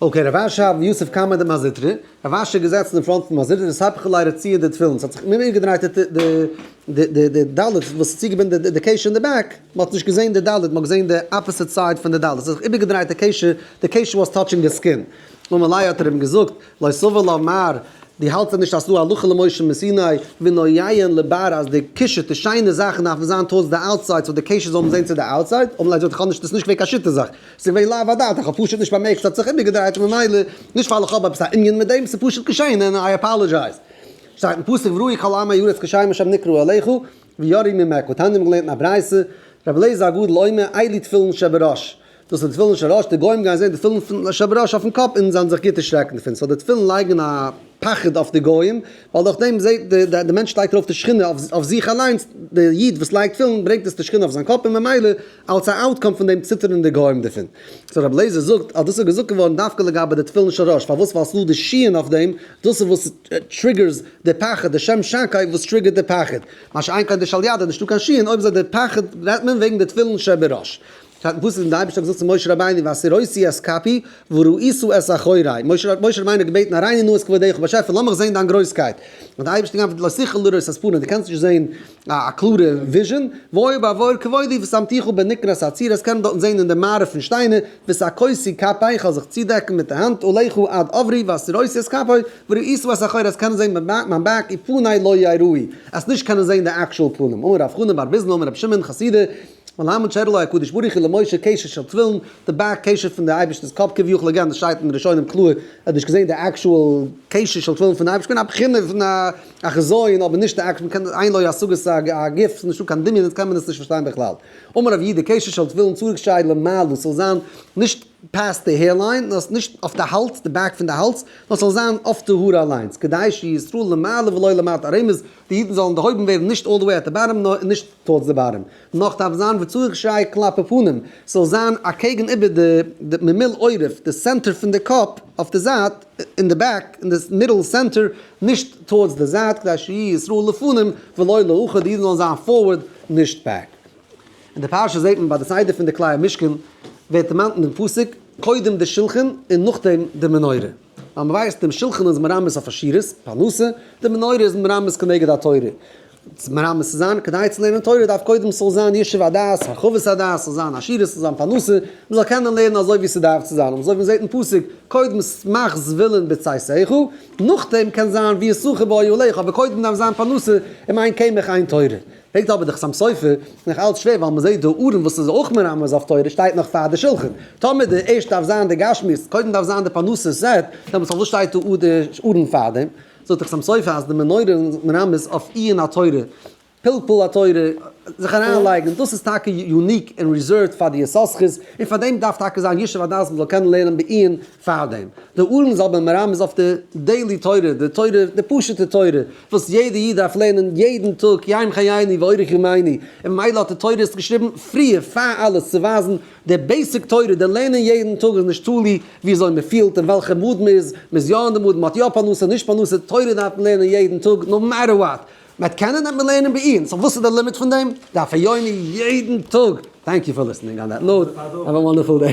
אקעי, רב אשר האבן יוסף קאמען די מזוטרא, רב אשר געזעצן אין פראנט פון מזוטרא און ספך אולי ר' ציון די תפילין, ס'האט זיך אומגעדרייט די די די ד' וואס איז צוגעבינדן די די קעש אין די בעק, מ'האט נישט געזען די ד', מ'האט געזען די אפעסיט סייד פון די ד', ס'האט זיך איבערגעדרייט די קעש, די קעש וואס טאטשינג די סקין, און מילא האט ער אים געזאגט לא סביר לומר, דו האלטסט נישט אז ס'דא הלכה למשה מסיני, ואינו יעיין לבאר אז די קשת די שיינע זאכן דארפן זיין טאווארדס די אוטסייד סאו די קעשער זאלן זעהן צו די אוטסייד, און ליידער האט איך נישט דאס נישט געווען קיין שיטה זאך, ס'איז געווען לאו הדעת איך האב פשוט נישט באמערקט ס'האט זיך איבערגעדרייט און ממילא נישט ווייל איך האב עפעס א ענין מיט דעם ס'איז פשוט געשעהן און איי אפאלעזשייז. שטייט אין פסוק וראי כל עמי הארץ קשיים אשר נקרעו אליך ויראי ממך, תניא האמיר געלערנט אין א ברייתא רבי אליעזר הגדול אומר איילי תפילין שבראש דאס אונז ווילן נישט ארויס די גוים גייען זעהן די תפילין פון לשער בראש אויפן קאפ אונז זיין זיך גוט דערשרעקן דערפון סאו די תפילין לייגן א פחד אויף די גוים ווייל דורך דעם זעהט די די מענטש לייגט ארויף די שכינה אויף זיך אליינס די איד וואס לייגט תפילין ברענגט עס די שכינה אויף זיין קאפ און ממילא אלס א אוטקאם פון דעם ציטערן די גוים דערפון סאו רבי אליעזר זאגט אז דאס איז געזאגט געווארן דווקא לגבי די תפילין של ראש פארוואס ווייל ס'איז דא די שיען אויף דעם דאס איז וואס טריגערס די פחד די שם שקר וואס טריגערט די פחד מה שאין כן די של יד איז נישטא קיין שיען אויב איז דא די פחד רעדט מען וועגן די תפילין שבראש. פאר וואס איז דען די אייבערשטער האט געזאגט צו משה רבינו ואסיר אותי את כפי וראיתו את אחורי, משה רבינו האט געבעטן אריין נא את כבודך באשעפער לאמיך זען דיין גרויסקייט, האט די אייבערשטער געענטפערט לא שכל לראות את פניו, די קענסט נישט זען א קלארע וויזשען, ואוי בעבור כבודי ושמתיך בנקרת הציר, עס קען מען דארטן זען אין די מערה פון שטיינער, ושקותי כפי, איך וועל זיך צודעקן מיט די האנט, אליך עד עברי ואסיר אותי את כפי וראיתו את אחורי, עס קען מען זען מיין בעק ופני לא יראי, עס נישט קענען זען די עקשועל פנים, אמר רב חנא בר ביזנא אמר רבי שמעון חסידי מלמד שרלוי הקדוש ברוך הוא למשה קשר של תפילין, די באק קשר פון די אייבערשטענס קאפ כביכול אגב דאס שטייט אין ראשונים קלאר ער האט נישט געזען די עקשועל קשר של תפילין פון אייבערשטען א בחינה פון א א חזיון אבער נישט די עקשועל קען עיין לוי השגות א א גוף ס'איז נישטא קיין דמיון איז קען מען עס נישט פארשטיין בכלל אמר רב יהודה קשר של תפילין צוריק שייד למעלה ס'זאל זיין נישט פאסט די העיר ליין, נאר נישט אויף די האלז, די בעק פון די האלז, נאר ס'זאל זיין אויף די האר אליינס, כדי שישראל למעלה ולא למטה, רמז, די אידן זאלן דערהויבן ווערן נישט אלל דע וועי עט די באטעם, נאר נישט טארדס די באטעם, נאך דארף זיין וצריך שיהיה כלפי פנים, ס'זאל זיין אקעגן איבער די ממילא עורף, די סענטער פון די קאפ, אויף די זייט, אין די בעק, אין די מידל סענטער, נישט טארדס די זייט, כדי שיהיה ישראל לפנים ולא לאחור, די אידן זאלן זיין פארווערד, נישט בעק. אין די פרשה זעט מען ביי די סדר פון די כלי המשכן ווערט דערמאנט אין דעם פסוק קודם די שלחן און נאכדעם די מנורה, ווייל מ'ווייסט דעם שלחן איז מרמז אויף עשירות, פרנסה, די מנורה איז מרמז כנגד התורה, מרמז צו זיין כדי צו לערנען תורה דארף קודם ס'זאל זיין ישוב הדעת, הרחבת הדעת, ס'זאל זיין עשירות, ס'זאל זיין פרנסה, מ'זאל קענען לערנען אזוי ווי ס'דארף צו זיין, אזוי ווי מ'זעט אין פסוק קודם שמח זבולון בצאתיך, נאכדעם קען זיין ויששכר באוהליך, אבער קודם דארף זיין פרנסה, און מיין קמח איין תורה. פרעגט אבער די חתם סופר, איז נאך אלץ שווער ווייל מ'זעט די ארון וואס איז אויך מרמז אויף תורה שטייט נאך פאר די שלחן. טאמער די ערשט דארף זיין די גשמיות, קודם דארף זיין די פרנסה סעט, דעמאלטס פארוואס שטייט דא די ארון פארדעם? זאגט די חתם סופר אז די מנורה איז מרמז אויף עיון התורה, פלפול התורה, זיך אריינלייגן, דאס איז טאקע יוניק און ריזערווד פאר די יששכר'ס, און פארדעם דארף טאקע זיין ישוב הדעת מ'זאל קענען לערנען בעיון פארדעם, דער ארון זאל ביים רמב ם איז אויף די דעילי תורה, די תורה, די פשוטע תורה, וואס יעדע איד דארף לערנען יעדן טאג יום חייני ואורך ימיני, און ממילא האט די תורות געשריבן פריער פאר אלעס צו ווייזן די בעיסיק תורה, די לערנען יעדן טאג איז נישט תלוי ווי אזוי מען פילט און וועלכע מאד מען איז, מען איז יא אין די מאד, מען האט יא פרנסה, נישט פרנסה, תורה דארף מען לערנען יעדן טאג נאו מעטער וואט, מען וועט קענען וועט מען לערנען בעיון, סאו וואס איז די לימיט פון דעם? דף היומי יעדן טאג! טענק יו פאר ליסטענינג אן דעט נאוט, האוו וואנדערפול דעי.